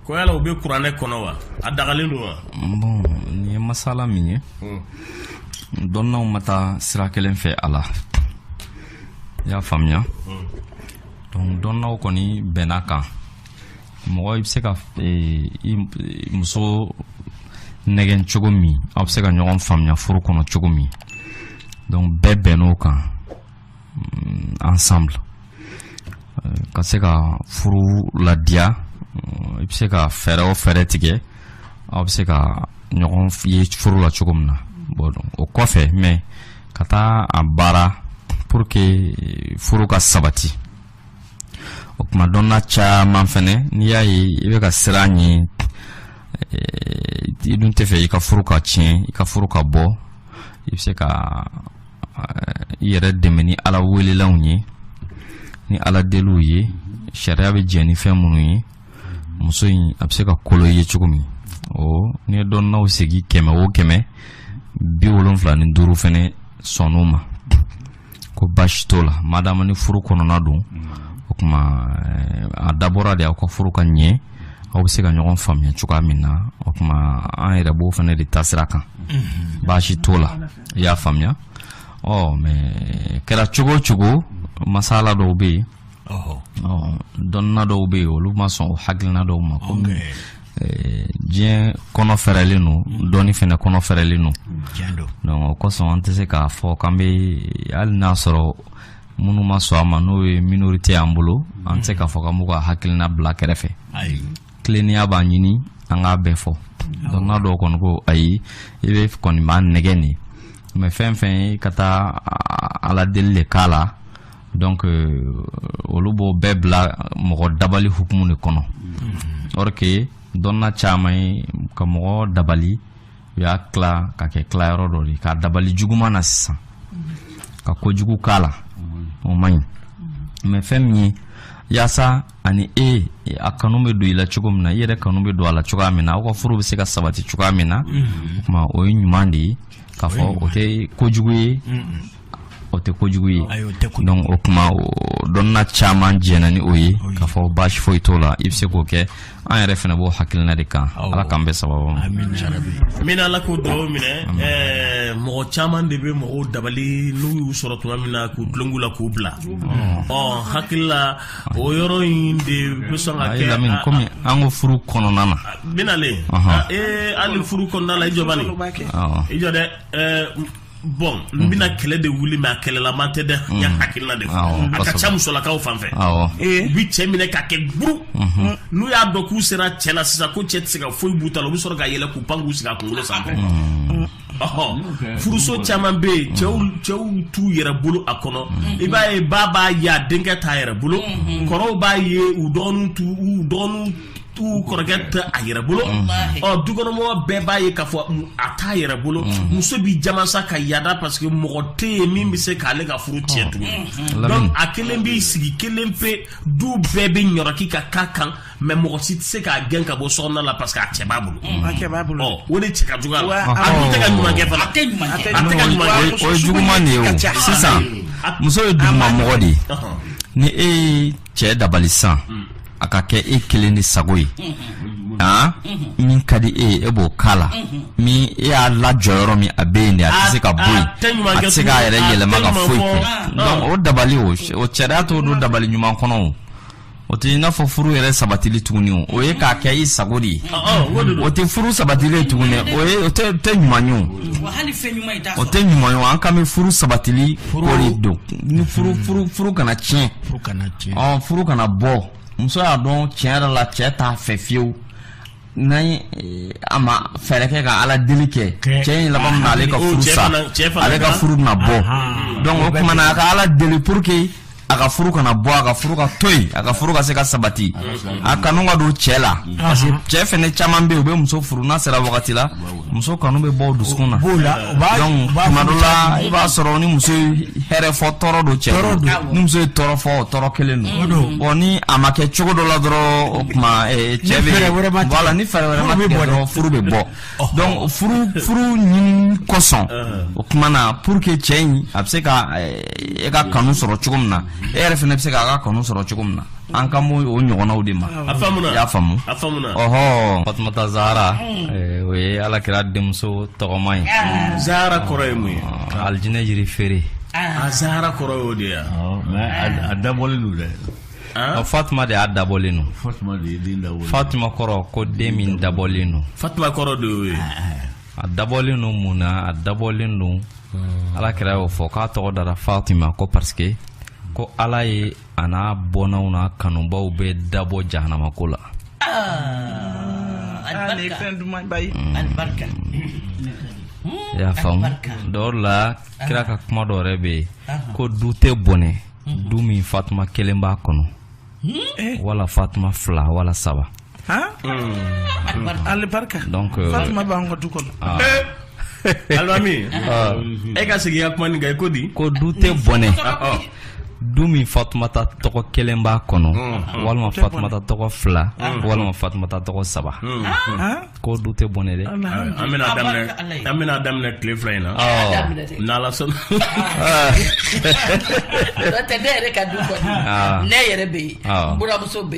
ko yala u bɛ kuranɛ kɔnɔ wa a dagalen don wa bon nin ye masala min ye hmm. dɔnnaw ma taa sira kelen fɛ a la i y'a faamuya hmm. donc dɔnnaw kɔni bɛnn'a kan mɔgɔ i bɛ se ka eh, i muso nɛgɛn cogo min aw bɛ se ka ɲɔgɔn faamuya furu kɔnɔ cogo min donc bɛɛ bɛnn'o kan ensemble ka se ka furu ladiya i bɛ se ka fɛɛrɛ o fɛɛrɛ tigɛ aw bɛ se ka ɲɔgɔn ye furu la cogo min na o kɔfɛ mais ka taa a baara pour que furu ka sabati o tuma dɔnna caman fɛnɛ n'i y'a ye i bɛ ka siran ɲɛ i dun tɛ fɛ i ka furu ka tiɲɛ i ka furu ka bɔ i bɛ se ka i yɛrɛ dɛmɛ ni ala welelanw ye ni ala deliw ye sariya bɛ jɛn ni fɛn minnu ye muso in a bɛ se ka kolo i ye cogo min o ni dɔnnaw sigi kɛmɛ o kɛmɛ bi wolonfila ni duuru fɛnɛ sɔnn'o ma ko baasi t'o la madama ni furu kɔnɔna don o tuma eh, a dabɔra de aw ka furu ka ɲɛ aw bɛ se ka ɲɔgɔn faamuya cogoya min na o tuma an yɛrɛ b'o fɛnɛ de taasira kan baasi t'o la i y'a faamuya ɔ mais kɛra cogo o cogo masala dɔw bɛ yen dɔnna dɔw bɛ yen olu ma sɔn o hakilina dɔw ma comme diɲɛ kɔnɔ fɛrɛlen don mm. dɔnni fɛnɛ kɔnɔ fɛrɛlen don donc o kosɔn an tɛ se k'a fɔ k'an bɛ hali n'a sɔrɔ minnu ma sɔn a ma n'o ye minorité y'an bolo an tɛ se k'a fɔ k'an b'u ka hakilina bila kɛrɛfɛ tilennenya b'a ɲini an k'a bɛɛ fɔ dɔnna dɔw kɔni ko ayi i bɛ kɔni b'a nɛgɛn nin mais fɛn fɛn ye ka taa ala deli de k'a la donc euh, olu b'o bɛɛ bila mɔgɔ dabali hukumu de kɔnɔ mm-hmm. or que dɔnna caman ye ka mɔgɔ dabali u y'a tila k'a kɛ tilayɔrɔ dɔ de k'a dabali juguman na sisan mm-hmm. ka kojugu k'a la mm-hmm. o man ɲi mais fɛn min ye yaasa ani e a kanu bɛ don i la cogo min na i yɛrɛ kanu bɛ don a la cogoya min na aw ka furu bɛ se ka sabati cogoya min na mm-hmm. o tuma o ye ɲuman de ye k'a fɔ o tɛ kojugu ye mm-hmm. o tɛ kojugu ye donc o tuma dɔnna caman jɛnna ni o ye k'a fɔ baasi foyi t'o la i bɛ se k'o kɛ an yɛrɛ fɛnɛ b'o hakilina de kan ala k'an bɛn sababu ma amiin ala k'o dugawu minɛ eh, mɔgɔ caman de bɛ mɔgɔw dabali n'u y'u sɔrɔ tuma min na k'u tulon k'u la k'u bila ɔ hakili la o yɔrɔ in de bɛ sɔn ka kɛ lamini kɔmi an ko furu kɔnɔna na binalen ee hali furu kɔnɔna la i jɔbani i jɔ dɛ bon n bɛna kɛlɛ de wuli mɛ a kɛlɛlama tɛ dɛ n y'a hakilina de fɔ a ka ca musolakaw fan fɛ u bɛ cɛ minɛ ka kɛ buru n'u y'a dɔn k'u sera cɛ la sisan ko cɛ tɛ se ka foyi b'u ta la u bɛ sɔrɔ ka yɛlɛn k'u pan k'u sigi a kunkolo sanfɛ furuso caman bɛ yen cɛw t'u yɛrɛ bolo a kɔnɔ i b'a ye ba b'a y'a denkɛ t'a yɛrɛ bolo kɔrɔw b'a ye u dɔgɔnin uu kɔrɔkɛ tɛ a yɛrɛ bolo ɔ dukɔnɔmɔgɔ bɛɛ b'a ye ka fɔ a t'a yɛrɛ bolo muso bɛ jamasa ka yaada parce que mɔgɔ tɛ yen min bɛ se k'ale ka furu tiɲɛ tugun a kelen b'i sigi kelen pe du bɛɛ bɛ ɲɔki ka kan kan mɛ mɔgɔ si tɛ se k'a gɛn ka bɔ so kɔnɔna la parce que a cɛ b'a bolo mm. a cɛ b'a bolo ɔ o de cɛ ka jugu a la a dun tɛ ka ɲuman kɛ fana a tɛ ɲuman kɛ a tɛ ka ɲuman kɛ o ye juguman de ye o sisan muso ye duguma mɔgɔ de ye ni e ye cɛ dabali san mm. a ka kɛ e kelen de sago ye mm-hmm. han mm-hmm. min ka di e ye e b'o k'a la mm-hmm. min e y'a lajɔ yɔrɔ min a bɛ yen de a tɛ se ka bɔ yen a tɛ se k'a yɛrɛ yɛlɛma ka foyi kɛ o dabali o sariya t'o don dabali ɲuman kɔnɔ o o tɛ i n'a fɔ furu yɛrɛ sabatili tuguni o o ye k'a kɛ i sago de ye o tɛ furu sabatili ye tuguni o ye o tɛ tɛ ɲuman ye o o tɛ ɲuman ye o an kan bɛ furu sabatili ko de don ni furu furu furu kana tiɲɛ ɔ furu kana bɔ muso y'a dɔn tiɲɛ yɛrɛ la cɛ t'a fɛ fiyewu n'an ye eh, a ma fɛɛrɛ kɛ ka ala deli kɛ Kɛ. cɛ in laban bɛna ale ka O furu cɛ sa fana- cɛ fana ale ka na- furu na bɔ Ahan. donc o tuma na a ka ala deli pour que a ka furu kana bɔ a ka furu ka to yen a ka furu ka se ka sabati a kanu ka don cɛ la parce que cɛ fɛnɛ caman bɛ yen u bɛ muso furu n'a sera wagati la muso kanu bɛ bɔ dusukun na b'o la u b'a donc u b'a tuma dɔ furu la cɛ ma. i b'a sɔrɔ ni muso ye hɛrɛ fɔ tɔɔrɔ don cɛ Tɔɔrɔ don. ni muso ye tɔɔrɔ fɔ o tɔɔrɔ kelen O don. don bon ni a ma kɛ cogo dɔ la dɔrɔn o tuma eh, cɛ Ni bɛ fɛɛrɛ wɛrɛ ma tigɛ. voilà ni fɛɛrɛ wɛrɛ ma Furu bɛ tigɛ bɔ dɛ. dɔrɔn furu bɛ bɔ donc furu furu ɲini kosɔn o tuma na pour que cɛ in a bɛ se ka eh, e ka kanu sɔrɔ cogo min na e yɛrɛ fana bɛ se k'a ka kanu sɔrɔ cogo min na an kan b'o ɲɔgɔnnaw de ma a faamuna y'a faamu a faamuna ɔhɔ fatumata zahara eh, o ye ala kira denmuso tɔgɔma ye ah. zahara kɔrɔ ye mun ye ah, alijinɛ yiri feere ah. a zahara kɔrɔ y'o de ye a dabɔlen don dɛ fatima de y'a dabɔlen don fatima kɔrɔ ko den min dabɔlen don fatima kɔrɔ de y'o ye a dabɔlen don mun na a dabɔlen don ala kira y'o fɔ k'a tɔgɔ dara fatima ko parce que ko ala ye a n'a bɔnnaw n'a kanubaw bɛ dabɔ jahanamako la i y'a faamu dɔw la kira ka kuma dɔ yɛrɛ bɛ yen ko du tɛ bɔnɛ du min fatuma kelen b'a kɔnɔ wala fatuma fila wala saba Alibarika fatuma b'an ka du kɔnɔ alimami e ka segin ka kuma nin i ko di ko du tɛ bɔnɛ du min fatumata tɔgɔ kelen b'a kɔnɔ walima fatumata tɔgɔ fila walima fatumata tɔgɔ saba ko du tɛ bɔnɛ dɛ an bɛn'a daminɛ tile fila in na n'ala sɔnna ne yɛrɛ bɛ yen buramuso bɛ yen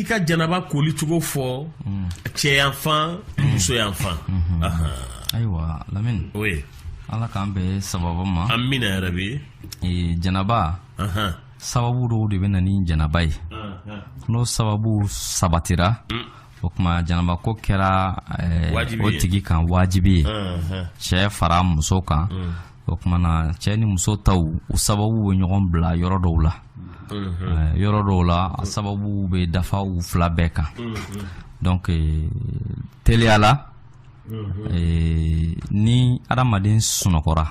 i ka janaba kolicogo fɔ hmm. cɛyanfan hmm. musoyanfan hmm. ayiwa lamini o ye ala k'an bɛɛ sababu ma an mina yɛrɛ bi janaba sababu dɔw de bɛ na ni janaba ye n'o sababu sabatira o tuma janaba ko kɛra eh, o tigi kan wajibi ye cɛ fara muso kan o tumana cɛ ni muso taw u sababu bɛ ɲɔgɔn bila yɔrɔ dɔw la mhm. yɔrɔ dɔw la a sababu bɛ dafa u fila bɛɛ kan mhm. donc teliya la mhm. ni adamaden sunɔgɔra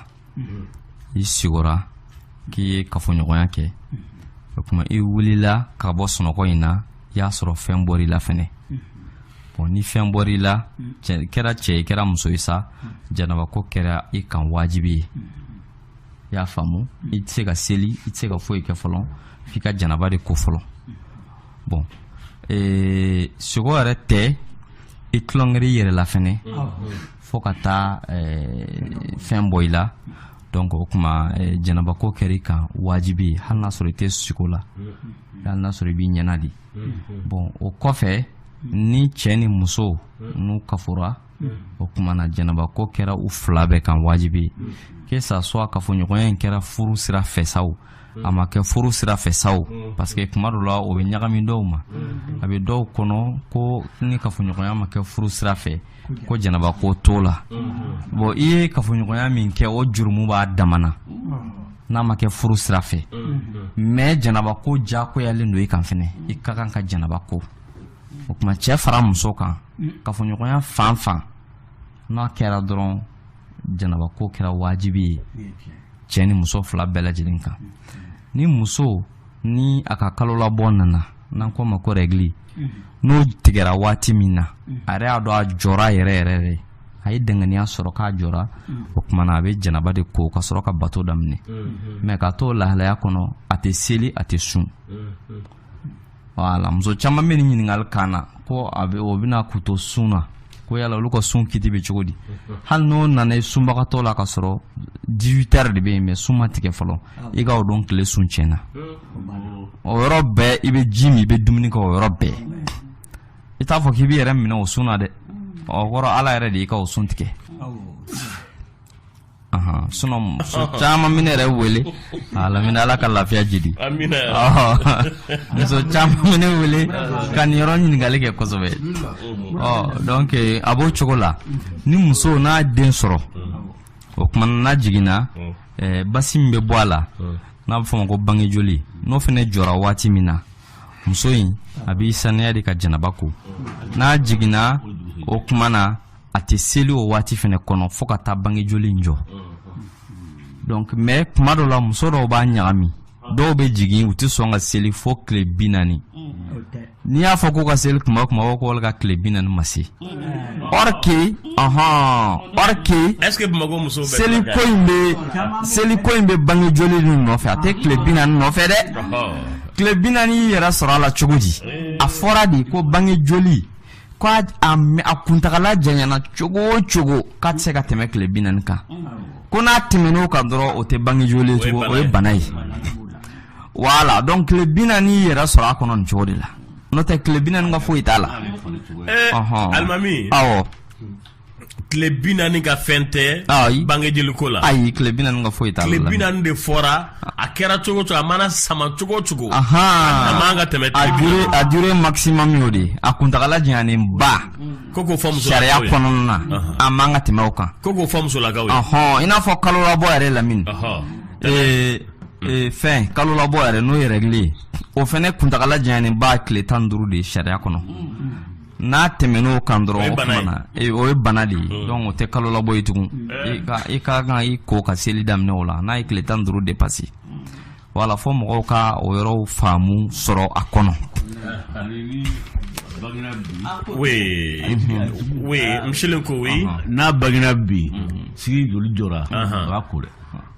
i sigora k'i ye kafoɲɔgɔnya kɛ o tuma i wulila ka bɔ sunɔgɔ in na i y'a sɔrɔ fɛn bɔr'i la fɛnɛ bon ni fɛn bɔra i la kɛra cɛ ye kɛra muso ye sa janaba ko kɛra i kan wajibi ye i y'a faamu i tɛ se ka seli i tɛ se ka foyi kɛ fɔlɔ f'i ka janaba de ko fɔlɔ bon ee, sigo yɛrɛ tɛ i tulonkɛra i yɛrɛ la fɛnɛ fo ka taa ee, fɛn bɔ i la donc o tuma ee, janaba ko kɛra i kan wajibi ye hali n'a sɔrɔ i tɛ sigo la hali n'a sɔrɔ i b'i ɲɛna de bon o kɔfɛ ni cɛ ni muso n'u kafora o kumana janabako kɛra u fila bɛɛ kan wajibi kɛ sa soit kafoɲɔgɔnya in kɛra furu sira fɛ sa o a ma kɛ furu sira fɛ sa o parce que kuma dɔ la o bɛ ɲagami dɔw ma a bɛ dɔw kɔnɔ ko ni kafoɲɔgɔnya ma kɛ furu sira fɛ ko janabako t'o la bon i ye kafoɲɔgɔnya min kɛ o jurumu b'a damana n'a ma kɛ furu sira fɛ mais janaba ko jakoyalen don i kan fɛnɛ i ka kan ka janaba ko o tuma cɛ fara muso kan kafoɲɔgɔnya fan fan n'a kɛra dɔrɔn janaba ko kɛra wajibi ye cɛ ni muso fila bɛɛ lajɛlen kan ni muso ni a ka kalo labɔ nana n'an k'o ma ko règle n'o tigɛra waati min na a yɛrɛ y'a dɔn a jɔra yɛrɛ yɛrɛ de a ye danganiya sɔrɔ k'a jɔra o tuma na a bɛ janaba de ko ka sɔrɔ ka bato daminɛ mais k'a t'o lahalaya kɔnɔ a tɛ seli a tɛ sun voilà muso caman bɛ nin ɲininkali k'an na ko a bɛ o bɛ na k'u to sun na ko yala olu ka sun kiti bɛ cogo di hali n'o nana i sunbagatɔ la ka sɔrɔ 18 heures de bɛ yen mais sun ma tigɛ fɔlɔ ah. i ka o don tile sun tiɲɛna hmm. o yɔrɔ bɛɛ i bɛ ji min i bɛ dumuni kɛ o yɔrɔ bɛɛ i t'a fɔ k'i b'i yɛrɛ minɛ o sun na dɛ hmm. o kɔrɔ ala yɛrɛ de y'i ka o sun tigɛ sinon muso caman bɛ n yɛrɛ wele lamini ala ka lafiya jidi muso caman bɛ n wele ka nin yɔrɔ ɲininkali kɛ kosɛbɛ donc a b'o cogo la ni muso n'a den sɔrɔ o tuma n'a jiginna basi min bɛ bɔ a la n'a bɛ f'a ma ko bangejoli n'o fana jɔra waati min na muso in a b'i saniya de ka janaba ko n'a jiginna o tuma na a tɛ seli o waati fana kɔnɔ fo ka taa bangejoli in jɔ donc mais kuma dɔw la muso dɔw b'a ɲagami dɔw bɛ jigin u tɛ sɔn ka seli fo tile bi naani n'i y'a fɔ k'u ka seli u b'a u b'a fɔ ko olu ka tile bi naani ma se or que ɔhɔn or que seli ko in bɛ seli ko in bɛ bangejoli nin nɔfɛ a tɛ tile bi naani nɔfɛ dɛ tile bi naani y'i yɛrɛ sɔrɔ a la cogo di a fɔra de ko bangejoli k' a kuntaala janyana cogo o cogo k'a tɛ se ka tɛmɛ tile bi naani kan ko n'a tɛmɛn'o kan dɔrɔn o tɛ bangejoli ye tugun o ye bana ye voilà donc tile bi naani y'i yɛrɛ sɔrɔ a kɔnɔ nin cogo de la n'o tɛ tile bi naani ka foyi t'a la tile bi naani ka fɛn tɛ bangejoliko la ayi tile bi naani ka foyi t'a la tile bi naani de fɔra a kɛra cogo o cogo a mana sama cogo o cogo a man ka tɛmɛ a durée a durée maximum y'o de ye a kuntagala janyanen ba ko k'o fɔ musolakaw ye sariya kɔnɔna na a man ka tɛmɛ o kan ko k'o fɔ musolakaw ye ɔhɔn i n'a fɔ kalo labɔ yɛrɛ lamini ee ee fɛn kalo labɔ yɛrɛ n'o ye règle o fɛnɛ kuntagala janyanen ba tile tan ni duuru de ye sariya kɔnɔ n'a tɛmɛn'o kan dɔrɔn o kuma na o ye bana de ye hmm. donc o tɛ kalo labɔ ye tugun eh. i ka i ka kan i ko ka seli daminɛ o la n'a ye tile tan duuru dépassé voilà fo mɔgɔw ka o yɔrɔw faamu sɔrɔ a kɔnɔ oui oui misilen ko oui n'a bangena bi sini joli jɔra o b'a ko dɛ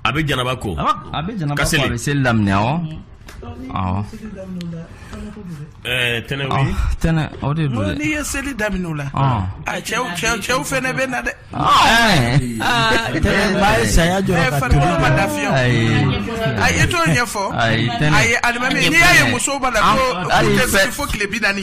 a bɛ janaba ko a bɛ janaba ko a bɛ seli daminɛ awɔ awɔ ɛɛ tɛnɛ o ye tɛnɛ o de don dɛ n'i ye seli daminɛ o la a cɛw cɛw cɛw fɛnɛ bɛ na dɛ tɛnɛ ba ye saya jɔ ka tobi farikolo ma lafiya a ye t'o ɲɛfɔ a ye alimami n'i y'a ye musow b'a la ko u tɛ seli fo tile bi naani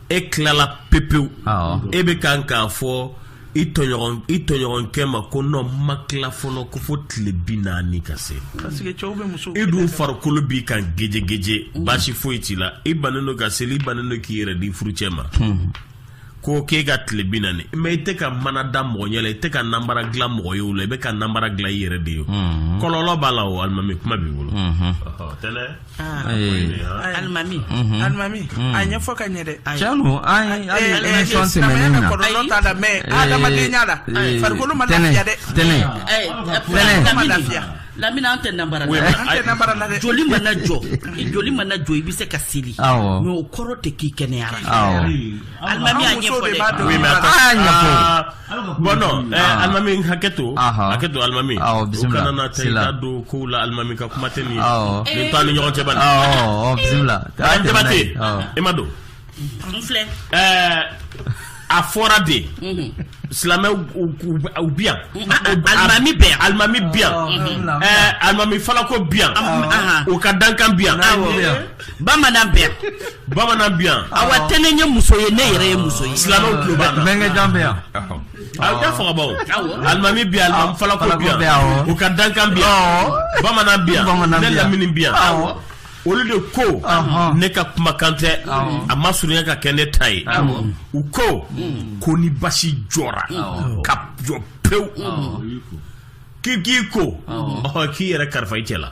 e tilala pepewu e bɛ kan k'a fɔ i tɔɲɔgɔnkɛ ma ko ne ma tila fɔlɔ ko fo tile bi naani ka se i dun farikolo b'i kan gejegeje mm. baasi foyi t'i la i bannen don ka seli i bannen don k'i yɛrɛ di furucɛ ma mm. ko k'e ka tile bi naani mais i tɛ ka mana da mɔgɔ ɲɛ la i tɛ ka nanbara dilan mɔgɔ ye o la i bɛ ka nanbara dilan i yɛrɛ de ye mm. kɔlɔlɔ b'a la o alimami kuma b'i bolo mm-hmm. alimami alimami a ɲɛfɔ ka ɲɛ dɛ sinon an ye hali émission tɛmɛnen na kɔlɔlɔ t'a la mais adamadenya la farikolo ma lafiya dɛ tɛnɛ tɛnɛ ma lafiya lamini an tɛ nambara la an tɛ nambara la dɛ joli mana jɔ joli mana jɔ i bɛ se ka seli mais o kɔrɔ tɛ k'i kɛnɛyara alimami a ɲɛfɔ dɛ a y'a ɲɛfɔ bɔn ah. alimami hakɛ to hakɛ to alimami u kana na ta da don kow la alimami ka kuma tɛ nin ye nin t'an ni ɲɔgɔn cɛ bani bisimila jabate i m'a dɔn a fɔra de mhm. silamɛw bi yan alimami bɛ yan alimami bi yan alimami falako bi yan u ka dankan bi yan bamanan bɛ yan bamanan bɛ yan awa tɛnɛ ye muso ye ne yɛrɛ ye muso ye silamɛw tulo b'an na bɛnkɛ jan bɛ yan a da fagabaw alimami bɛ yan alimami falako bɛ yan u ka dankan bɛ yan bamanan bɛ yan ne lamini bɛ yan olu de ko ne ka kumakan tɛ a ma surunya ka kɛ ne ta ye u ko mm. ko ni basi jɔra ka jɔ pewu k'i k'i ko k'i yɛrɛ kalifa i cɛ la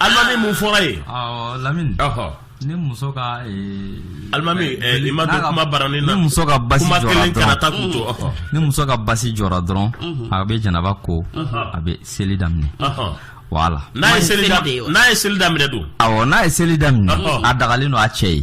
alimami mun fɔra ye lamini ni muso ka alimami i ma don kuma baranin na ni muso ka basi jɔra dɔrɔn kana taa k'u to ni muso ka basi jɔra dɔrɔn a bɛ janaba ko a bɛ seli daminɛ voilà n'a ye seli daminɛ n'a ye seli daminɛ don awɔ n'a ye seli daminɛ a dagalen don a cɛ ye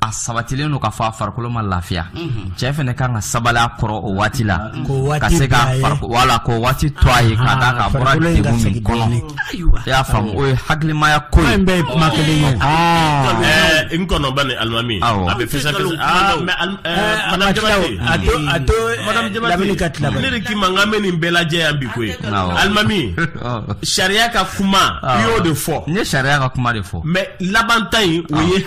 a sabatilen don k'a fɔ a farikolo ma lafiya mhm. cɛ fana kan ka sabali a kɔrɔ o waati la ka se ka wala k'o waati to a ye ka d'a kan a bɔra degun min kɔnɔ i y'a faamu o ye hakilimaya ko ye an bɛɛ kuma kelen ye ah. eh, n kɔnɔ bani alimami a bɛ fisa fisa ah, madame eh, jabate a to a to eh, madame jabate ka tila ne de k'i ma n ka mɛ nin bɛɛ lajɛ yan bi koyi alimami sariya ka kuma i y'o de fɔ n ye sariya ka kuma de fɔ mais labanta in o ye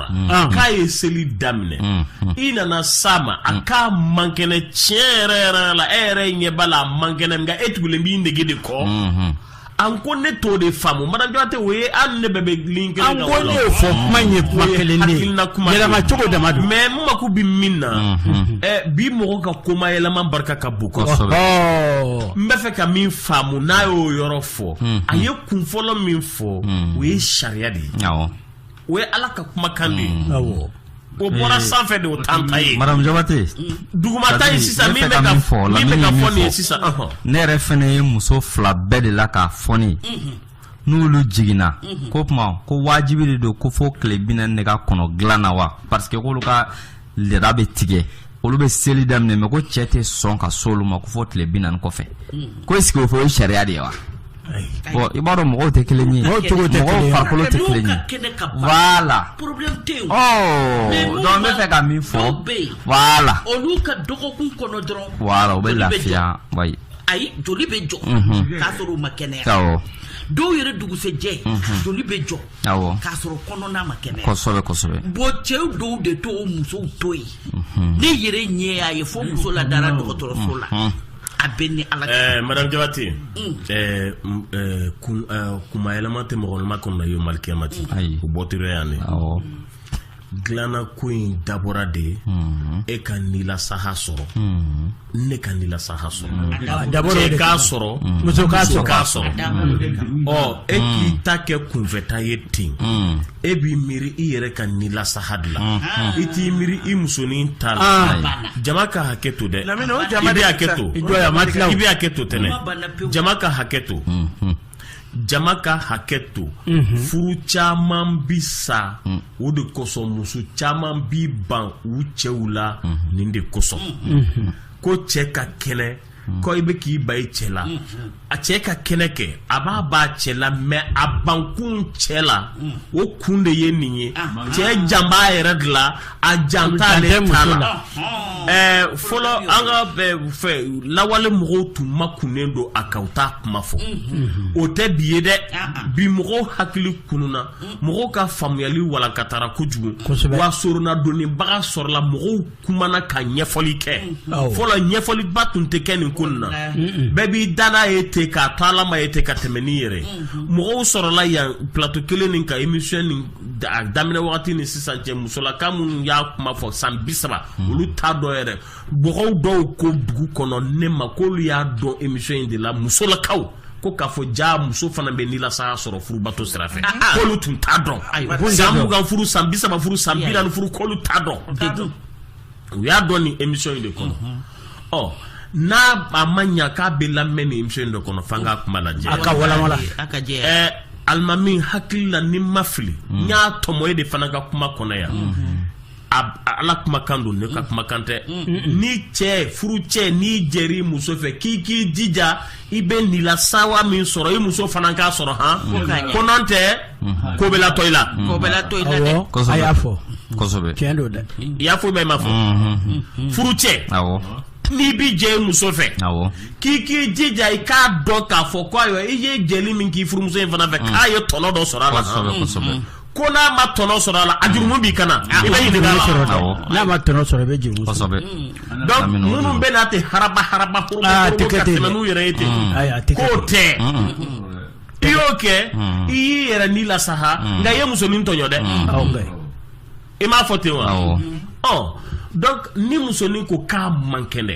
k'a ye seli daminɛ i nana sa ma a k'a man kɛnɛ tiɲɛ yɛrɛ yɛrɛ la e yɛrɛ ɲɛ b'a la a man kɛnɛ nka e tugulen b'i nege de kɔ an ko ne t'o de faamu madame jabate o ye hali ne bɛɛ bɛ ligne kelen na ko ne y'o fɔ kuma in ye kuma kelen de ye yɛlɛma cogo dama don mɛ n mako bɛ min na bi mɔgɔ ka kuma yɛlɛma barika ka bon kosɛbɛ n bɛ fɛ ka min faamu n'a y'o yɔrɔ fɔ a ye kun fɔlɔ min fɔ o ye sariya de ye o ye ala ka kumakan de ye mm. o bɔra sanfɛ de o t'an ta ye madame jabate duguma ta ye sisan min bɛ ka fɔ min bɛ ka fɔ nin ye sisan ne yɛrɛ fana ye muso fila bɛɛ de la k'a fɔ ne n'olu jiginna ko tuma ko wajibi de don ko fo tile bi naani de ka kɔnɔ dilan na wa parce que k'olu ka laada bɛ tigɛ olu bɛ seli daminɛ mɛ ko cɛ tɛ sɔn ka se olu ma ko fo tile bi naani kɔfɛ ko est-ce que o fɔ o ye sariya de ye wa bon i b'a dɔn mɔgɔw tɛ kelen ye mɔgɔw farikolo tɛ kelen ye voilà ɔ donc n bɛ fɛ ka min fɔ voilà olu ka dɔgɔkun kɔnɔ dɔrɔn voilà u bɛ lafiya wa ayi ayi joli bɛ jɔ k'a sɔrɔ u ma kɛnɛya dɔw yɛrɛ dugusɛjɛ joli bɛ jɔ k'a sɔrɔ kɔnɔna ma kɛnɛ bon cɛw dɔw de t'u musow to yen mhm. ne yɛrɛ ɲɛ y'a ye fo muso la dara dɔgɔtɔrɔso la mhm. a bɛ ni ala eh, madame jabate mm. eh, mm, eh, kuma yɛlɛma tɛ mɔgɔ makɔnɔ na yawmal kiyamati o bɔtɔ yan de dilannako in dabɔra de ye mhm. e ka nilasaha sɔrɔ mhm. ne ka nilasaha sɔrɔ mhm. ah, cɛ k'a sɔrɔ muso k'a sɔrɔ ɔ e k'i ta kɛ kunfɛta ye ten e b'i miiri i yɛrɛ ka nilasaha de la i t'i miiri i musonin ta la ah. jama ka hakɛ to dɛ i bɛ hakɛ to i bɛ hakɛ to tɛnɛ jama ka hakɛ to jama ka hakɛ to mhm. furu caman bi sa mm. o de kosɔn muso caman bi ban u cɛw la mhm. nin de kosɔn mhm. ko cɛ ka kɛnɛ mm. ko i bɛ k'i ban i cɛ la a cɛ ka kɛnɛ kɛ a b'a ban cɛ la mɛ a bankun cɛ la mm. o kun de ye nin ye cɛ jan b'a yɛrɛ de la a jan t'ale la fɔlɔ an ka fɛn lawale mɔgɔw tun makunnen don a kan u t'a kuma fɔ mm-hmm. o tɛ bi ye dɛ ah, ah. bi mɔgɔw hakili kununna mm. mɔgɔw ka faamuyali walankatara kojugu wa sorona dɔnbaga sɔrɔla mɔgɔw kumana ka ɲɛfɔli kɛ mm-hmm. fɔlɔ ɲɛfɔliba tun tɛ kɛ nin ko na bɛɛ b'i dade ye ten k'a to ala ma ye ten ka tɛmɛ n'i yɛrɛ mm-hmm. mɔgɔw sɔrɔla yan plateau kelen nin kan émission nin a daminɛ wagati ni sisan cɛ musolaka minnu y'a kuma fɔ san bi saba hmm. olu t'a dɔn yɛrɛ mɔgɔ dɔw ko dugu kɔnɔ ne ma k'olu y'a dɔn émission in de la musolakaw ko k'a fɔ jaa muso fana bɛ nilasawa sɔrɔ furubato sira fɛ ah, ah. k'olu tun t'a dɔn san mugan furu san bi saba furu san bi naani furu k'olu t'a dɔn u y'a dɔn nin émission in de kɔnɔ ɔ n'a a ma ɲa k'a bɛɛ lamɛn nin émission in de kɔnɔ f'an ka kuma lajɛ a ka walanwala a ka jɛ ɛɛ alimami n hakili la ni n ma fili n y'a tɔmɔ e de fana ka kuma kɔnɔ yan ala kumakan don ne ka kumakan tɛ ni cɛ furucɛ n'i jɛra muso fɛ k'i k'i jija i bɛ nilasawa min sɔrɔ i muso fana k'a sɔrɔ han ko nɔntɛ ko bɛ latɔ i la ko bɛ latɔ i la dɛ a y'a fɔ kosɛbɛ tiɲɛ don dɛ i y'a fɔ mɛ i m'a fɔ furucɛ awɔ n'i bi jɛ i muso fɛ awɔ k'i k'i jija i k'a dɔn k'a fɔ ko ayiwa i ye jɛli min k'i furumuso in fana fɛ k'a ye tɔnɔ dɔ sɔrɔ a la kosɛbɛ kosɛbɛ ko n'a ma tɔnɔ sɔrɔ a la a jurumu b'i kan na ah, i bɛ ɲininka la sɔrɔ dɛ n'a ma tɔnɔ sɔrɔ i bɛ jurumu kosɛbɛ mm. donc minnu bɛ na ten haraba haraba koro ah, koro ka tɛmɛ n'u yɛrɛ ye ten mm. k'o tɛ i y'o kɛ i y'i yɛrɛ ni lasawa mm. nka i ye muso nin tɔɲɔ dɛ i m'a fɔ ten wa ɔ donc ni muso nin ko k'a man kɛnɛ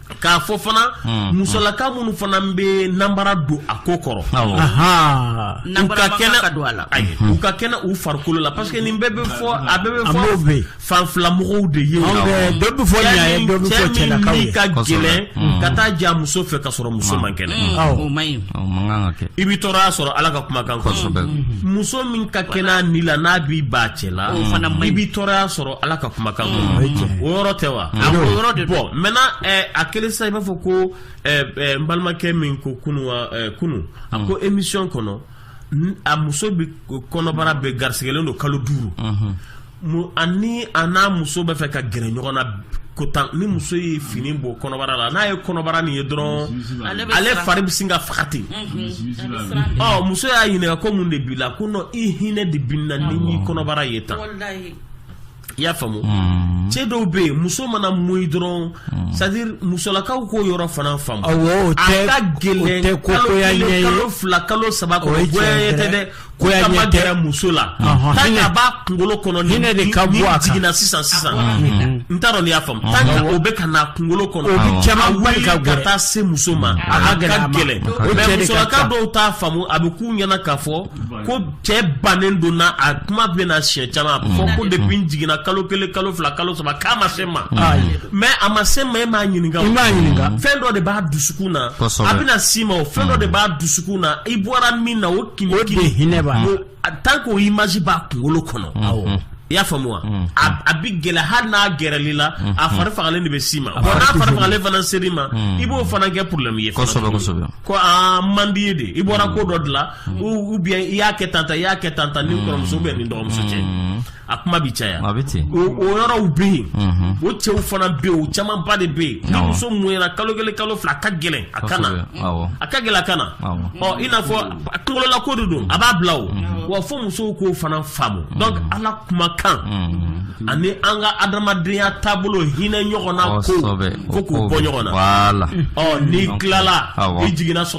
k'a fɔ fana hmm. musolaka minnu fana bɛ nanbara don a ko kɔrɔ u ka kɛnɛ don a la u ka kɛnɛ u farikolo la parce que nin bɛɛ bɛ fɔ a bɛɛ bɛ fɔ fan fila mɔgɔw de ye dɔ bɛ fɔ ɲa ye dɔ bɛ fɔ cɛlakaw ye ka gɛlɛn hmm. ka taa jɛ a muso fɛ ka sɔrɔ muso man kɛnɛ hmm. o man ɲi i bɛ tɔɔrɔya sɔrɔ ala ka kumakan kosɛbɛ muso min ka kɛnɛ a ni la n'a b'i ban cɛ la i bɛ tɔɔrɔya sɔrɔ ala ka kumakan mm. o yɔrɔ tɛ wa a ko yɔrɔ de bon maintenant eh, a kelen sisan i b'a fɔ ko eh, eh, n balimakɛ min ko kunu kunu a ko mm. emisiyɔn kɔnɔ a muso bɛ kɔnɔbara bɛ garisigɛlen don kalo duuru mm-hmm. ani a n'a muso bɛ fɛ ka gɛrɛ ɲɔgɔn na ko tan ni muso ye fini bɔ kɔnɔbara la n'a ye kɔnɔbara nin ye dɔrɔn ale fari bɛ sin ka faga ten muso y'a ɲininka ko mun de b'i la ko non i hinɛ de bɛ n na ni n y'i kɔnɔbara ye tan i y'a faamu hmm. cɛ dɔw bɛ yen muso mana moyi dɔrɔn hmm. c'est à dire musolakaw k'o yɔrɔ fana faamu awɔ o tɛ a ka gɛlɛn kalo kelen kalo fila kalo saba kɔnɔ goyaɲɛ tɛ dɛ goyaɲɛ tɛ k'a ma gɛrɛ muso la tant que a b'a kunkolo kɔnɔ ni hinɛ de ka bɔ a kan jiginna sisan sisan n t'a dɔn n'i y'a faamu tant que o bɛ ka na kunkolo kɔnɔ o bɛ caman wuli ka taa se muso ma a ka gɛlɛn mais musolaka dɔw t'a faamu a bɛ k'u ɲɛ na k'a fɔ ko cɛ bannen don na a kuma bɛ na siɲɛ caman mm. fɔ ko mm. depuis n jiginna kalo kelen kalo fila kalo saba k'a ma se n ma mm. mais a ma se n ma e m'a ɲininka i m'a ɲininka fɛn dɔ de b'a dusukun na a bɛna s'i ma o fɛn dɔ de b'a dusukun na i bɔra min na o kinikini hinɛ b'a la tant que o image b'a kunkolo kɔnɔ awɔ i y'a faamu wa a bɛ gɛrɛ hali n'a gɛrɛl'i la a fari fagalen de bɛ s'i ma bon n'a fari fagalen fana ser'i ma i b'o fana kɛ problème ye kosɛbɛ kosɛbɛ ko aa man di ye de i bɔra ko dɔ de la u bɛ i y'a kɛ tanta i y'a kɛ tanta ni kɔrɔmuso bɛ nin dɔgɔmuso cɛ a kuma bɛ caya o yɔrɔw bɛ yen o cɛw fana bɛ yen o camanba de bɛ yen muso mɔnyana kalo kelen kalo fila a ka gɛlɛn a ka na a ka gɛlɛn a ka na ɔ i n'a fɔ kungolɔla ko de don a b'a bila o wa fo musow k'o fana faamu ala kumakan ani an ka adamadenya taabolo hinɛ ɲɔgɔn na ko ko k'u bɔ ɲɔgɔn na ɔ n'i tilala i jiginna sɔrɔ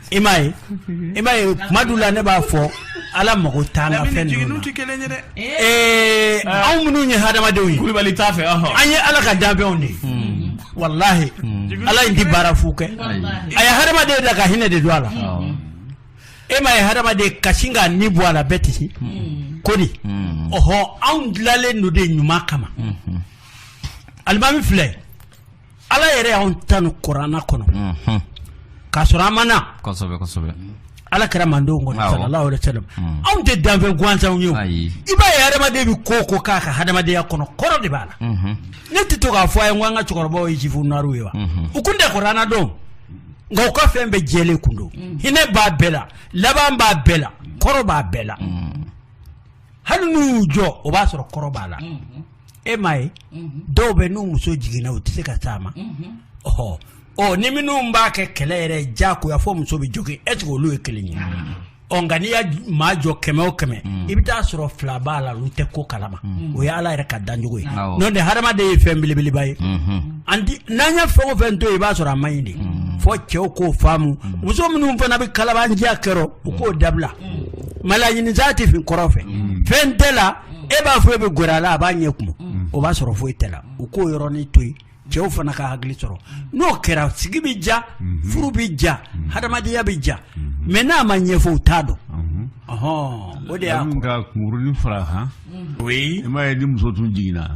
i m'a ye i m'a ye kuma dun la ne b'a fɔ ala mago t'a la fɛn ninnu na ee anw minnu ye hadamadenw ye kulubali t'a fɛ an ye ala ka danfɛnw de ye walahi ala in ti baara fu kɛ a ye hadamaden da ka hinɛ de don a la e m'a ye hadamaden ka sin k'a ni bɔ a la bɛɛ tɛ se ko di ɔhɔ anw dilanlen don de ɲuman kama alimami filɛ Ala yɛrɛ y'an tanu kurana kɔnɔ k'a sɔrɔ an ma na ala kira mantɔn kɔnɔ sallallahu alayhi wa sallam anw tɛ danfɛn gansanw ye i b'a ye adamaden bɛ ko o ko k'a ka adamadenya kɔnɔ kɔrɔ de b'a la ne tɛ to k'a fɔ aw ye ko an ka cɛkɔrɔbaw ye jifu naw ye wa u kun tɛ kurana dɔn nka u ka fɛn bɛɛ jɛlen kun don hinɛ b'a bɛɛ la laban b'a bɛɛ la kɔrɔ b'a bɛɛ la hali n'u y'u jɔ o b'a sɔrɔ kɔrɔ b'a la e m'a ye dɔw bɛ n'u muso jiginna u tɛ se ka taa a ma ɔ ɔ ni minnu b'a kɛ kɛlɛ yɛrɛ diyagoya fo muso bɛ jogin est ce que olu ye kelen ye ɔ nka n'i ye maa jɔ kɛmɛ o kɛmɛ i bɛ taa sɔrɔ fila b'a la olu tɛ ko kalama o ye ala yɛrɛ ka dancogo ye Awɔ. n'o tɛ hadamaden ye fɛn belebeleba ye an di n'an ye fɛn o fɛn to yen i b'a sɔrɔ a man ɲi de fo cɛw k'o faamu muso minnu fana bɛ kalabanciya kɛ ɔ u k'o dabila ɲini tɛ fin kɔrɔ fɛ fɛn t'a la e b'a fɔ e bɛ gɛrɛ a la a b'a ɲɛ kumu o b'a sɔrɔ foyi t'a la u k'o yɔrɔnin to yen cɛw fana ka hakili sɔrɔ n'o kɛra sigi bɛ diya furu bɛ diya hadamadenya bɛ diya mais n'a ma ɲɛfɔ u t'a dɔn o de y'a fara i m'a ye ni muso tun jiginna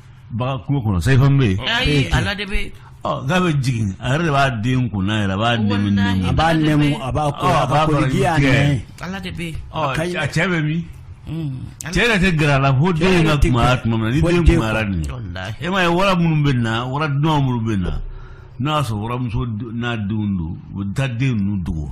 Bagan kungo kɔnɔ sa bɛ ala de bɛ a bɛ jigin a yɛrɛ de b'a den kun a b'a b'a a cɛ bɛ min cɛ tɛ gɛrɛ a la fo den ka tuma tuma min ni den dun e m'a ye wara minnu bɛ na wara dun minnu bɛ na n'a y'a sɔrɔ waramuso n'a denw don a b'a den ninnu dogo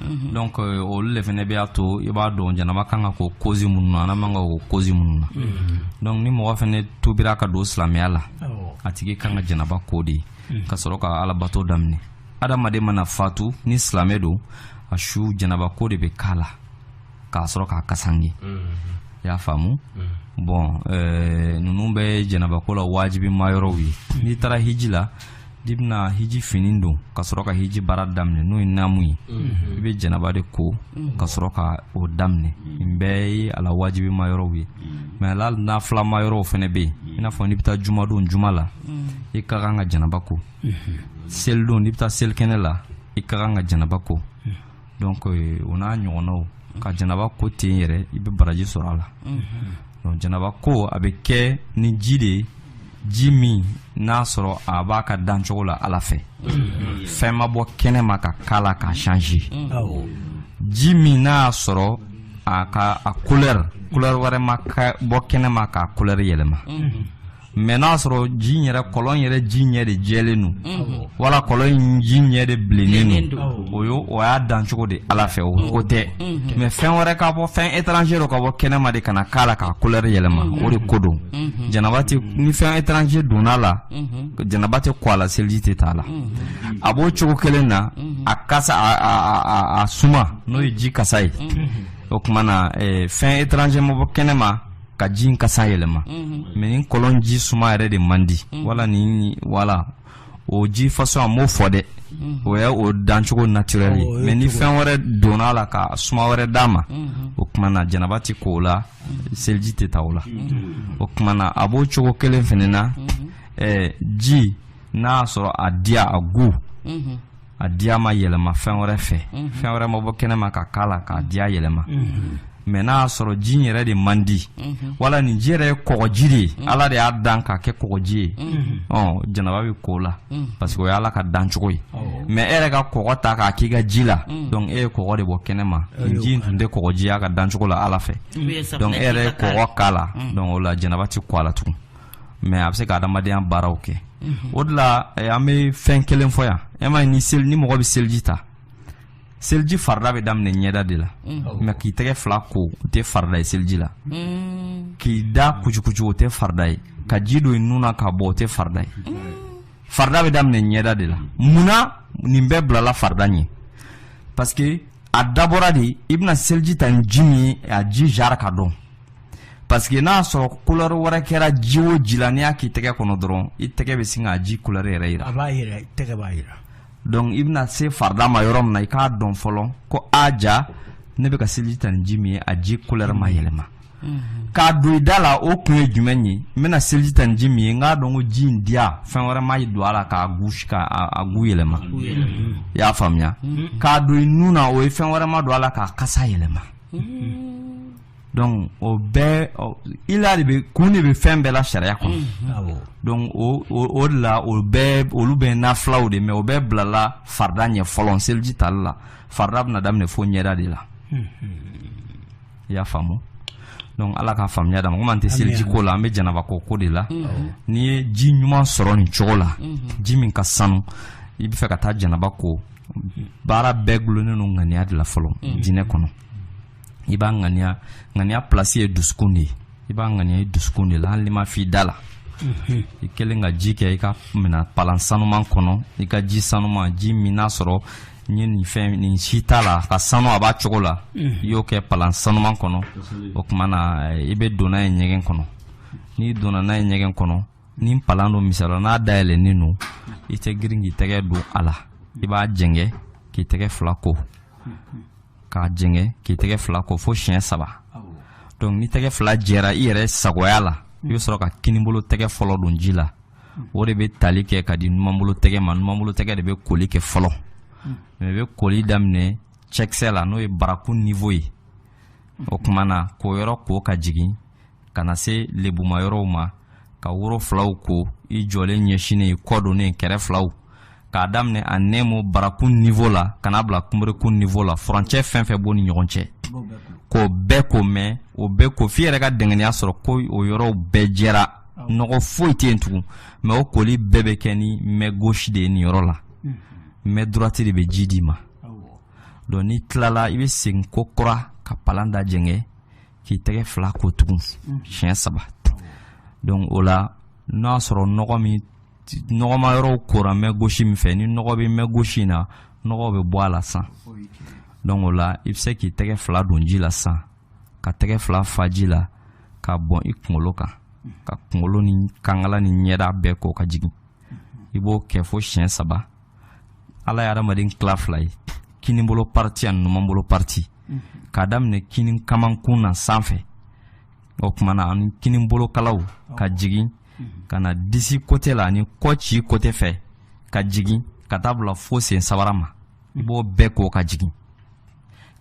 Mhm. donc euh, olu de fana b'a to i b'a dɔn janaba ka kan ka ko cause minnu na a man kan ka ko cause minnu na mhm. donc ni mɔgɔ fana tubira ka don silamɛya la a tigi kan ka janaba ko de mhm. ka sɔrɔ ka alabato daminɛ adamaden mana fatu ni silamɛ don a su janaba ko de bɛ k'a la ka sɔrɔ k'a kasanke i y'a faamu bon euh, ninnu bɛɛ janaba ko la wajibima yɔrɔw ye n'i taara hiji la i bɛna hiji fini don ka sɔrɔ ka hiji baara daminɛ n'o ye naamu ye mhm. i bɛ janaba de ko mhm. ka sɔrɔ ka o daminɛ mhm. nin bɛɛ ye a la wajibima yɔrɔw ye mais a la nafilama yɔrɔw fana bɛ yen i n'a fɔ n'i bɛ taa jumadon juma la i ka kan ka janaba ko selidon n'i bɛ taa selikɛnɛ la i ka kan ka janaba ko donc o n'a ɲɔgɔnnaw ka janaba ko ten yɛrɛ i bɛ baraji sɔrɔ a la donc janaba ko a bɛ kɛ ni ji de ye ji min n'a sɔrɔ a b'a ka dancogo la ala fɛ fɛn ma bɔ kɛnɛ ma ka k'a la k'a change ji min n'a y'a sɔrɔ a ka couleur couleur wɛrɛ ma bɔ kɛnɛ ma k'a couleur yɛlɛma mais n'a sɔrɔ ji yɛrɛ kɔlɔn yɛrɛ ji ɲɛ de jɛlen don mhm. wala kɔlɔn in ji ɲɛ de bilennen don o ye o y'a dancogo de ala fɛ o ko tɛ mhm. mais fɛn wɛrɛ ka bɔ fɛn étranger dɔ ka bɔ kɛnɛma de ka na k'a la k'a couleur yɛlɛma mhm. o de ko don janaba tɛ ni fɛn étranger donna a la janaba tɛ ko a la seliji tɛ t'a la a b'o cogo kelen na a kasa a suma n'o ye ji kasa ye o tuma na eh, fɛn étranger ma bɔ kɛnɛma ka ji in kasa yɛlɛma mais ni kɔlɔn ji suma yɛrɛ de man di wala ni wala o ji façon a m'o fɔ dɛ o ye o dancogo naturel ye mais ni fɛn wɛrɛ donna a la ka suma wɛrɛ d'a ma o tuma na janaba tɛ ko o la seliji tɛ ta o la o tuma na a b'o cogo kelen fana na ji n'a y'a sɔrɔ a diya a goût a diya ma yɛlɛma fɛn wɛrɛ fɛ mhm. fɛn wɛrɛ ma bɔ kɛnɛ ma ka k'a la k'a diya yɛlɛma mhm. mais n'a y'a sɔrɔ ji in yɛrɛ de man di mhm. wala nin ji yɛrɛ ye kɔgɔji de ye ala de y'a dan k'a kɛ kɔgɔji ye ɔ janaba bɛ k'o la parce que o y'ala ka dancogo ye mais e yɛrɛ ka kɔgɔ ta k'a k'i ka ji la donc e ye kɔgɔ de bɔ kɛnɛ ma nin ji in tun tɛ kɔgɔji y'a ka dancogo la ala fɛ donc e yɛrɛ ye kɔgɔ k'a la donc o la janaba tɛ ko a la tugun mais a bɛ se ka adamadenya baaraw kɛ mhm. o de la eh, an bɛ fɛn kelen fɔ yan e ma ni seli ni mɔgɔ bɛ seliji ta seliji farida bɛ daminɛ ɲɛda de la mhm. mais k'i tɛgɛ fila ko o tɛ farida ye seliji la mhm. k'i da kucukucu o tɛ farida ye ka ji don i nun na k'a bɔ o tɛ farida ye farida bɛ daminɛ ɲɛda de la munna nin bɛɛ bilala farida ɲɛ parce que a dabɔra de i bɛna seliji ta ni ji min ye a ji jara ka dɔn parce que n'a sɔrɔ couleur wɛrɛ kɛra ji o ji la n'i y'a k'i tɛgɛ kɔnɔ dɔrɔn i tɛgɛ bɛ sin ka ji couleur yɛrɛ jira. a b'a jira i tɛgɛ b'a jira. donc i bɛna se farida ma yɔrɔ min na i k'a dɔn fɔlɔ ko a ja ne bɛ ka seliji ta ni ji min ye a ji couleur ma yɛlɛma. k'a don i da la o kun ye jumɛn ye n bɛna seliji ta ni ji min ye n k'a dɔn ko ji in diya fɛn wɛrɛ ma don a la k'a gusi ka a goût yɛlɛma i y'a faamuya k'a don i nun na o ye fɛn wɛrɛ ma don a la k'a kasa yɛlɛma. donc o bɛɛ ila de bɛ kun de bɛ fɛn bɛɛ la sariya kɔnɔ mm-hmm. donc o o de la o bɛɛ olu bɛɛ nafilaw de mɛ o bɛɛ bilala farida ɲɛ fɔlɔ seliji tali la farida bɛna daminɛ fo ɲɛda de la mm-hmm. i y'a faamu donc ala ka faamuya d'an ma komi an tɛ seliji ko la an bɛ janaba ko ko de la mm-hmm. n'i ye ji ɲuman sɔrɔ nin cogo la ji min ka sanu i bɛ fɛ ka taa janaba ko baara bɛɛ gulonnen don ŋaniya de la fɔlɔ diinɛ kɔnɔ i b'a ŋaniya ŋaniya place ye dusukun de ye i b'a ŋaniya i dusukun de la hali n'i m'a f'i da la mhm. i kɛlen ka ji kɛ i ka minan palan sanuman kɔnɔ i ka ji sanuman ji min n'a sɔrɔ n ye nin fɛn nin si t'a la ka sanu a b'a cogo la mhm. i y'o kɛ palan sanuman kɔnɔ o tuma na i bɛ don n'a ye ɲɛgɛn kɔnɔ n'i donna n'a ye ɲɛgɛn kɔnɔ ni palan don misala n'a dayɛlɛnnen don i tɛ girin k'i tɛgɛ don a la i b'a jɛngɛ k'i tɛgɛ fila ko mhm. k'a jɛngɛ k'i tɛgɛ fila ko fo siɲɛ saba donc ni tɛgɛ fila jɛra i yɛrɛ sagoya la i bɛ sɔrɔ ka kinibolo tɛgɛ fɔlɔ don ji la o de bɛ tali kɛ ka di numanbolo tɛgɛ ma numanbolo tɛgɛ de bɛ koli kɛ fɔlɔ mɛ i bɛ koli daminɛ cɛkisɛ la n'o ye barakun niveau ye o tuma na k'o yɔrɔ ko ka jigin ka na se lebuma yɔrɔw ma ka woro filaw ko i jɔlen ɲɛsinnen kɔ donnen kɛrɛ filaw k'a daminɛ en un mot barakun niveau la ka na bila kunberekun niveau la furancɛ fɛn fɛn b'o ni ɲɔgɔn cɛ k'o bɛɛ ko mɛn o bɛɛ ko f'i yɛrɛ ka dɛngɛniya sɔrɔ ko o yɔrɔw bɛɛ jɛra nɔgɔ foyi tɛ yen tugun mɛ o koli bɛɛ bɛ kɛ ni main gauche de ye nin yɔrɔ la main droite de bɛ ji d'i ma donc n'i tilala i bɛ segin kokura ka palan da jɛngɛ k'i tɛgɛ fila ko tugun mm. siɲɛ saba donc o la n'o y'a sɔrɔ nɔgɔ min nɔgɔma yɔrɔw kora main gauche min fɛ ni nɔgɔ bɛ main gauche in na nɔgɔ bɛ bɔ a la san donc o la i bɛ se k'i tɛgɛ fila don ji la san ka tɛgɛ fila fa ji la ka bɔn i kunkolo kan ka kunkolo ni kankala ni ɲɛda bɛɛ ko ka jigin i b'o kɛ fo siɲɛ saba ala ye adamaden tila fila ye kinibolo partie ani numanbolo partie mhm. k'a daminɛ kini kamankun na sanfɛ o tuma na ani kinibolo kalaw ka jigin mhm. ka na disi côté la ani kɔci côté fɛ ka jigin ka taa bila fo sen sabara ma i b'o bɛɛ ko ka jigin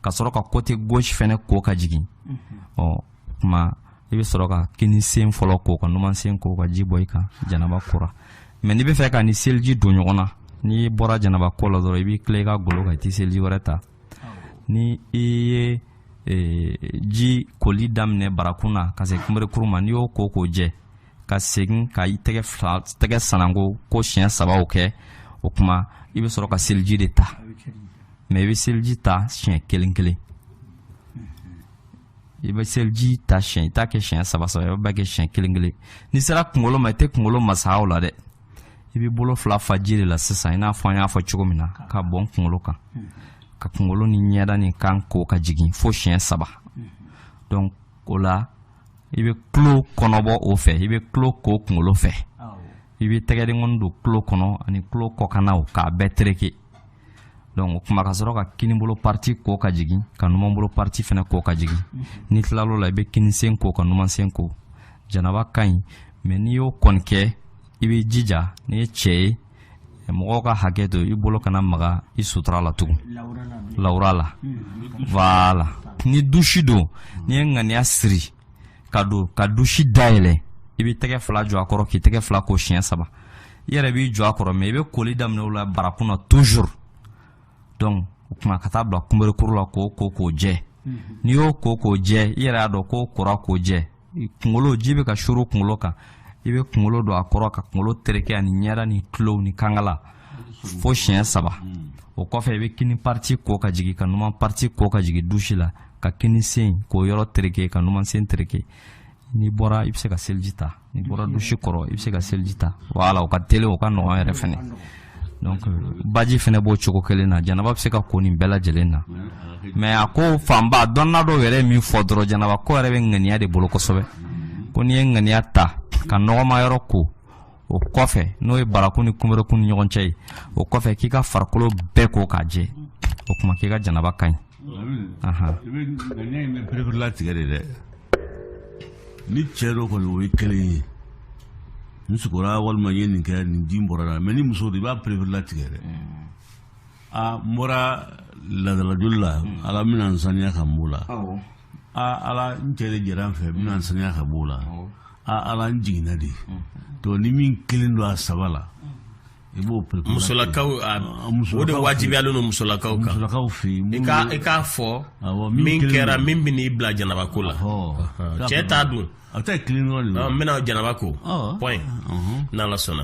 ka sɔrɔ ka côté gauche fɛnɛ ko ka jigin mhm. ɔ kuma i bɛ sɔrɔ ka kini sen fɔlɔ ko ka numan sen ko ka ji bɔn i kan janaba kora mɛ n'i b'a fɛ k'a ni seliji don ɲɔgɔn na n'i bɔra janaba ko la dɔrɔn i b'i tilen i ka golo kan i tɛ seliji wɛrɛ ta ni i ye e, ji koli daminɛ barakun na ka se kunberekuru ma n'i y'o ko k'o jɛ ka segin ka i tɛgɛ fila tɛgɛ sananko ko siɲɛ sabaw kɛ o kuma i bɛ sɔrɔ ka seliji de ta mɛ i bɛ seliji ta siɲɛ kelen kelen i bɛ seliji ta siɲɛ i t'a kɛ siɲɛ saba saba i b'a kɛ siɲɛ kelen kelen n'i sera kunkolo ma i tɛ kunkolo masa o la dɛ i bɛ bolo fila fa ji de la sisan i n'a fɔ an y'a fɔ cogo min na k'a bɔn kunkolo kan ka kunkolo ni ɲɛda ni kan ko ka jigin fo siɲɛ saba donc o la i bɛ tulo kɔnɔbɔ o fɛ i bɛ tulo ko kunkolo fɛ i bɛ tɛgɛdenkɔni don tulo kɔnɔ ani tulo kɔkannaw k'a bɛɛ tereke donc o kuma ka sɔrɔ ka kinibolo parti ko ka jigin ka numanbolo parti fɛnɛ ko ka jigin mhm. n'i tilala o la i bɛ kinisen ko ka numansen ko janaba ka ɲi mɛ n'i y'o kɔni kɛ i bɛ jija n'i ye cɛ ye mɔgɔw ka hakɛ to i bolo kana maga i sutura la tugun lawura la wala ni dusi don n'i ye ŋaniya siri ka don ka dusi dayɛlɛ i bɛ tɛgɛ fila jɔ a kɔrɔ k'i tɛgɛ fila ko siɲɛ saba i yɛrɛ b'i jɔ a kɔrɔ mɛ i bɛ koli daminɛ o la barakun na toujours donc o kuma ka taa bila kunberekuru la k'o ko k'o jɛ mhm. n'i y'o ko k'o jɛ i yɛrɛ y'a dɔn k'o kora k'o jɛ kunkolo ji bɛ ka suuru kunkolo kan i bɛ kunkolo don a kɔrɔ ka kunkolo tereke ani ɲɛda ni tulow ni kankala fo siɲɛ saba o kɔfɛ i bɛ kini pariti ko ka jigin ka numan pariti ko ka jigin dusi la ka kini sen k'o yɔrɔ tereke ka numan sen tereke n'i bɔra i bɛ se ka seliji ta n'i bɔra dusi kɔrɔ i bɛ se ka seliji ta wala o ka teli o ka nɔgɔn yɛrɛ fɛnɛ donc baji fɛnɛ b'o cogo kelen na janaba bɛ se ka ko nin bɛɛ lajɛlen na mɛ a ko fanba dɔnna dɔw yɛrɛ ye min fɔ dɔrɔn janaba ko yɛrɛ bɛ ŋaniya de bolo kosɛbɛ ko n'i ye ŋaniya ta ka nɔgɔma yɔrɔ ko o kɔfɛ n'o ye barakun ni kunberekun ni ɲɔgɔn cɛ ye o kɔfɛ k'i ka farikolo bɛɛ ko k'a jɛ o kuma k'i ka janaba ka ɲi i b'a pereperelatigɛ de dɛ ni cɛ don kɔni o ye kelen ye n sukora walima n ye nin kɛ nin ji bɔra la mɛ ni muso de i b'a pereperelatigɛ dɛ a n bɔra laadalajoli la ala n bɛna n saniya ka n b'o la aa ala n cɛ de jɛra n fɛ n bɛna n saniya ka b'o la aa ala n jiginna de to ni min kɛlen don a saba la i b'o perepere musolakaw a- Ah, musolakaw o de wajibiyalen don musolakaw kan musolakaw fɛ yen i ka i k'a fɔ Awɔ, min min kelen kɛra don. min bɛn'i bila janaba ko la Ɔhɔ. cɛ ta dun a bɛ taa kelen dɔrɔn de la Ɔ, n bɛna janaba ko Ɔhɔ. bon Ɔhɔn. n'ala sɔnna